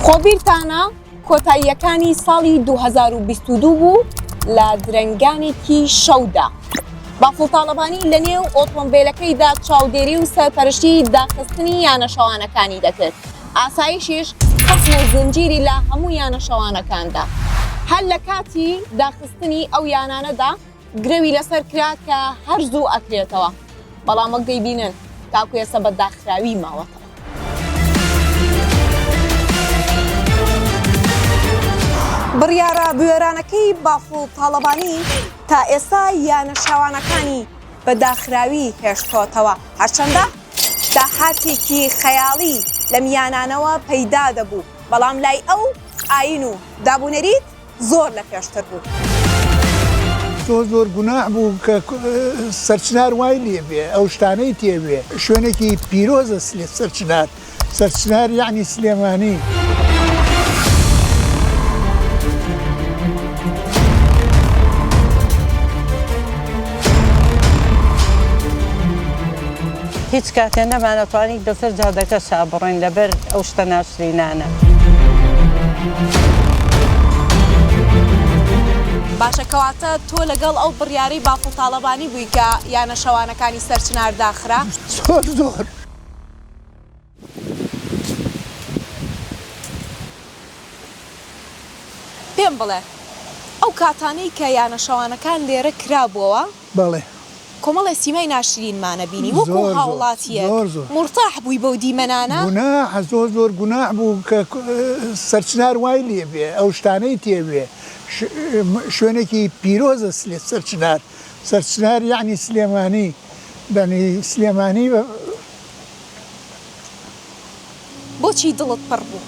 خۆ بیرتانە کۆتاییەکانی ساڵی 2022 بوو لە درەنگانێکی شەودا بافڵ تاڵەبانی لە نێو ئۆتۆمبیلەکەیدا چاودێری و سەرپەرشتی داخستنی یانەشەوانەکانی دەکرد ئاسایشیش قسم و زنجیری لە هەموو یانەشەوانەکاندا هەر لە کاتی داخستنی ئەو یانانەدا گرەوی لەسەر کرا کە هەر زوو ئەکرێتەوە بەڵام وەک دەیبینن تاکو ئێستا بە داخراوی ماوەتەوە بڕیارە بوێرانەکەی بافڵ تاڵەبانی تا ئێستا یانە شاوانەکانی بە داخراوی هێشتۆتەوە هەرچەندە داهاتێکی خەیاڵی لەم یانانەوە پەیدا دەبوو بەڵام لای ئەو ئاین و دابونەریت زۆر لە پێشتر بوو. زۆر زۆر گوناح بوو کە سەرچنار وای لێ بێ ئەو شتانەی تێوێ شوێنێکی پیرۆزە سلێ سەرچنار سەرچنار یعنی سلێمانی. هیچ کاتێ نەمانەتوانی بەسەر جادەکە شا بڕۆین لەبەر ئەو شتە ناشرینانە. باشە کەواتە تۆ لەگەڵ ئەو بڕیارەی بافڵ تاڵەبانی بووی کە یانە شەوانەکانی سەرچنار داخرا؟ زۆر زۆر. پێم بڵێ ئەو کاتانەی کە یانە شەوانەکان لێرە کرابوەوە بەڵێ. کۆمەڵێ سیمای ناشرینمانە بینی وەکو زۆر زۆر هاوڵاتیەک زۆر زۆر. مورتاح بووی بەو دیمەنانە؟ گوناحە زۆر زۆر گوناح بوو کە سەرچنار وای لێبێ ئەو شتانەی تێبێ ش شوێنێکی پیرۆزە سلێ سەرچنار سەرچنار یەعنی سلێمانی بەنی سلێمانی بە. بۆچی دڵت پڕ بوو؟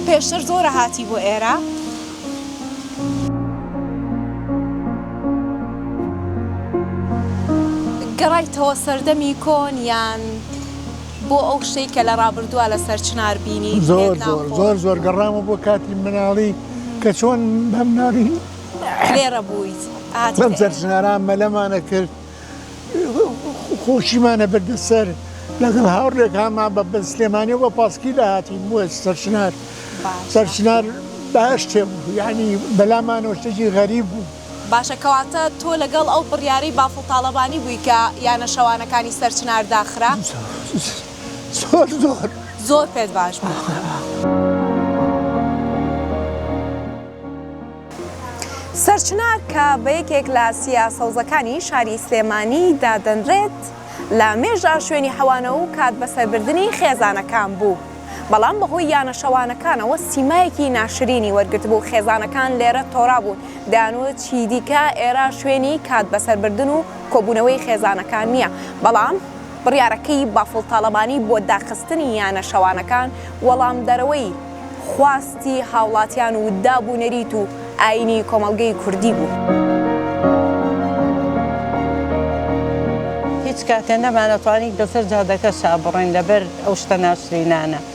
پێشتر زۆرە هاتی بۆ ئێرە؟ گەڕایتەوە سەردەمی کۆن یان بۆ ئەو شتەی کە لە ڕابردووە لەسەر چنار بینی؟ زۆر زۆر زۆر زۆر گەڕامە بۆ کاتی مناڵی. کە چۆن بەم نارین لێرە بوویت بەم سەرژناران مەلەمانە کرد خۆشیمانە بردە سەر لەگەڵ هاوڕێکانمان بە بە سلێمانی بە پاسکی لە هاتی بووە سەرشنار سەرشنار باشتێ بوو یعنی بەلامانەوە شتێکی غەریب بوو باشە کەواتە تۆ لەگەڵ ئەو بڕیارەی بافڵ تاالبانی بووی کە یانە شەوانەکانی سەرچنار داخرا زۆر زۆر زۆر پێت باش بوو. سەرچنار کە بە یەکێک لە سیا سەوزەکانی شاری سلێمانی دادەنرێت لە مێژا شوێنی حەوانە و کات بەسەربردنی خێزانەکان بوو بەڵام بەهۆی یانە شەوانەکانەوە سیمایەکی ناشرینی وەرگرتبوو خێزانەکان لێرە تۆرابوون دەیانوت چی دیکە ئێرە شوێنی کات بەسەربردن و کۆبوونەوەی خێزانەکان نییە بەڵام بڕیارەکەی بافڵ تاڵەبانی بۆ داخستنی یانە شەوانەکان وەڵامدەرەوەی خواستی هاوڵاتیان و داب و نەریت و ئایینی کۆمەڵگەی کوردی بوو. هیچ کاتێ نەمانەتوانی بەسەر جادەکەشا بڕۆین لەبەر ئەو شتە ناشرینانە.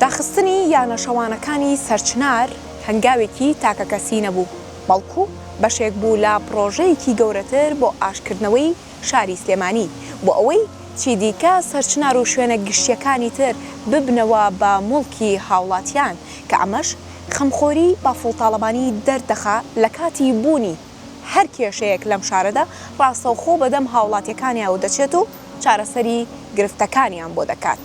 داخستنی یانە شەوانەکانی سەرچنار هەنگاوێکی تاکەکەسی نەبوو، بەڵکو بەشێک بوو لە پڕۆژەیەکی گەورەتر بۆ ئاشتکردنەوەی شاری سلێمانی، بۆ ئەوەی چیدیکە سەرچنار و شوێنە گشتییەکانی تر ببنەوە بە موڵکی هاوڵاتیان، کە ئەمەش خەمخۆری بافڵ تاڵەبانی دەردەخا لەکاتی بوونی. هەر کێشەیەک لەم شارەدا ڕاستەوخۆ بەدەم هاوڵاتیەکانیاو دەچێت و چارەسەری گرفتەکانیان بۆ دەکات.